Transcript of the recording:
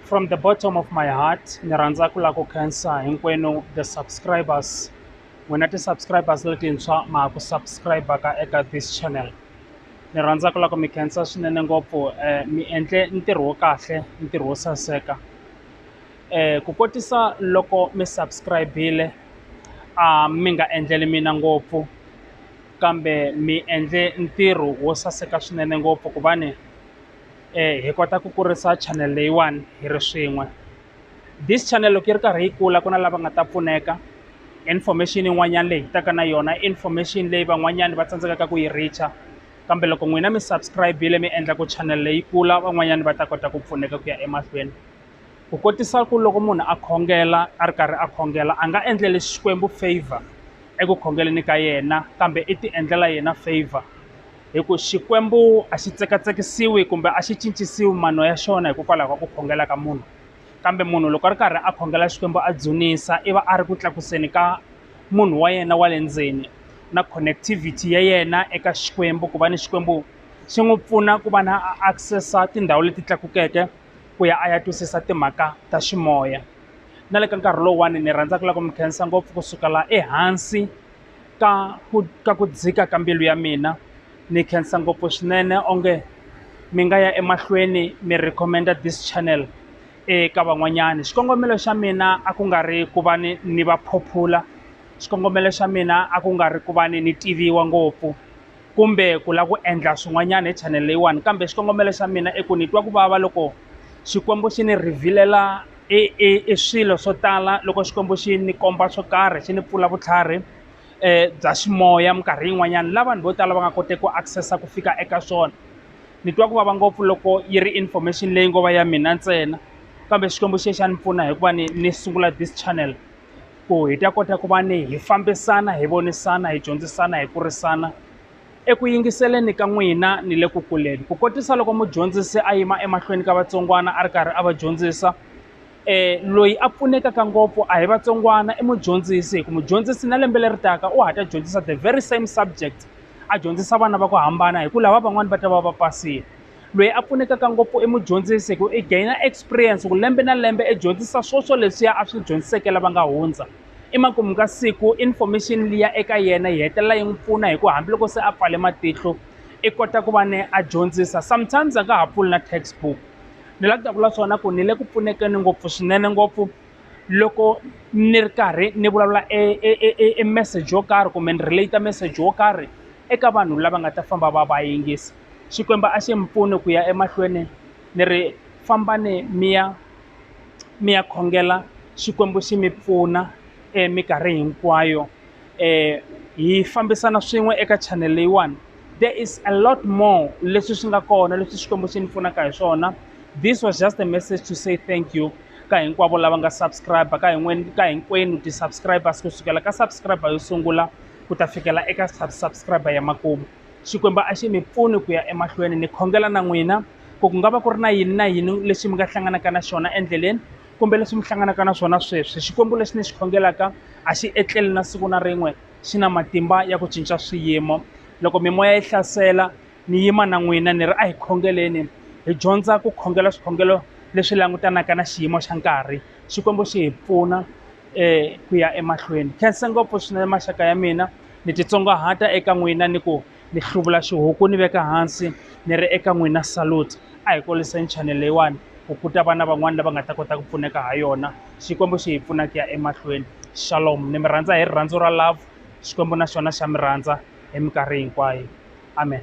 from the bottom of my heart ni rhandza ku lava ku khensa hinkwenu the subscribers n'wina ti-subscribers letintshwa ma ha ku subscribe-aka eka this channel ni rhandza ku lava ku mi khensa swinene ngopfu um mi endle ntirho wo kahle ntirho wo saseka um ku kotisa loko mi subscribe-ile a mi nga endleli mina ngopfu kambe mi endle ntirho wo saseka swinene ngopfu ku va ni hi kota ku kurisa chanele leyiwani hi ri swin'we this chanele loko yi ri karhi yi kula ku na lava nga ta pfuneka information yin'wanyana leyi hi taka na yona information leyi van'wanyani va tsandzekaka ku yi reach-a kambe loko n'wina mi subscribe-ile mi endla ku chanele yi kula van'wanyana va ta kota ku pfuneka ku ya emahlweni. Ku kotisa ku loko munhu a khongela a ri karhi a khongela a nga endleli Xikwembu favour eku khongeleni ka yena kambe i ti endlela yena favour hi ku Xikwembu a xi tsekatsekisiwi kumbe a xi cincisiwi mano ya xona hikokwalaho ka ku khongela ka munhu kambe munhu loko a ri karhi a khongela Xikwembu a dzunisa i va a ri ku tlakuseni ka munhu wa yena wa le ndzeni na connectivity ya yena eka Xikwembu ku va ni Xikwembu xi n'wi pfuna ku va na access-a tindhawu leti tlakukeke ku ya a ya twisisa timhaka ta ximoya na le ka nkarhi lowuwani ni rhandza ku lava ku mi khensa ngopfu ku sukela ehansi ka ku ka ku dzika ka mbilu ya mina ni khensa ngopfu swinene onge mi nga ya emahlweni mi recommend-a this channel eka van'wanyani xikongomelo xa mina a ku nga ri ku va ni ni va phophula xikongomelo xa mina a ku nga ri ku va ni ni tiviwa ngopfu. kumbe ku lava ku endla swin'wanyana hi channel leyiwani kambe xikongomelo xa mina i ku ni twa ku vava loko xikwembu xi ni rhivhilela i i i swilo swo tala loko xikwembu xi ni komba swo karhi xi ni pfula vutlhari um bya ximoya minkarhi yin'wanyana la vanhu vo tala va nga koteki ku access-a ku fika eka swona ni twa ku vava ngopfu loko yi ri information leyi ngo va ya mina ntsena kambe xikwembu xi ye xa ni pfuna hikuva ni ni sungula this channel. ku hi ta kota ku va ni hi fambisana hi vonisana hi dyondzisana hi kurisana eku yingiseleni ka n'wina ni le ku kuleni ku kotisa loko mudyondzisi a yima emahlweni ka vatsongwana a ri karhi a va dyondzisa um loyi a pfunekaka ngopfu a hi vatsongwana i mudyondzisi hi ku mudyondzisi na lembe leri taka u hatla dyondzisa the very same subject a dyondzisa vana va ku hambana hi ku lava van'wani va ta va va pasile. loyi a pfunekaka ngopfu i mudyondzisi hi ku i gain-a experience ku lembe na lembe i dyondzisa swo swo leswiya a swi dyondziseke lava nga hundza i makumu ka siku information liya eka yena yi hetelela yi n'wi pfuna hi ku hambiloko se a pfale matihlo i kota ku va ni a dyondzisa sometimes a nga ha pfuli na textbook ni la ku ta vula swona ku ni le ku pfunekeni ngopfu swinene ngopfu loko ni ri karhi ni vulavula e message yo karhi kumbe ni relate message wo karhi eka vanhu lava nga ta famba va va yingisa. Xikwembu a xi n'wi pfune ku ya emahlweni ni ri fambani mi ya mi ya khongela Xikwembu xi mi pfuna minkarhi hinkwayo hi fambisana swin'we eka channel leyiwani there is a lot more leswi swi nga kona leswi Xikwembu xi ni pfunaka hi swona this was just a message to say thank you ka hinkwavo lava nga subscribe ka hin'wani ka hinkwenu ti-subscribers kusukela ka subscriber yo sungula ku ta fikela eka subscriber ya makumu. Xikwembu a xi mi pfuni ku ya emahlweni ni khongela na n'wina ku ku nga va ku ri na yini na yini lexi mi nga hlanganaka na xona endleleni kumbe leswi mi hlanganaka na swona sweswi xikwembu lexi ni xi khongelaka a xi etleli na siku na rin'we xi na matimba ya ku cinca swiyimo loko mimoya yi hlasela ni yima na n'wina ni ri a hi khongeleni hi dyondza ku khongela swikhongelo leswi langutanaka na xiyimo xa nkarhi xikwembu xi hi pfuna ku ya emahlweni khensa ngopfu swinene maxaka ya mina ni titsongahata eka n'wina ni ku ni hluvula xihuku ni veka hansi ni ri eka n'wina salute a hi kuriseni channel leyiwani ku ku ta va na van'wani lava nga ta kota ku pfuneka ha yona xikwembu xi hi pfuna ku ya emahlweni shalom ni mi rhandza hi rirhandzu ra love xikwembu na xona xa mi rhandza hi minkarhi hinkwayo amen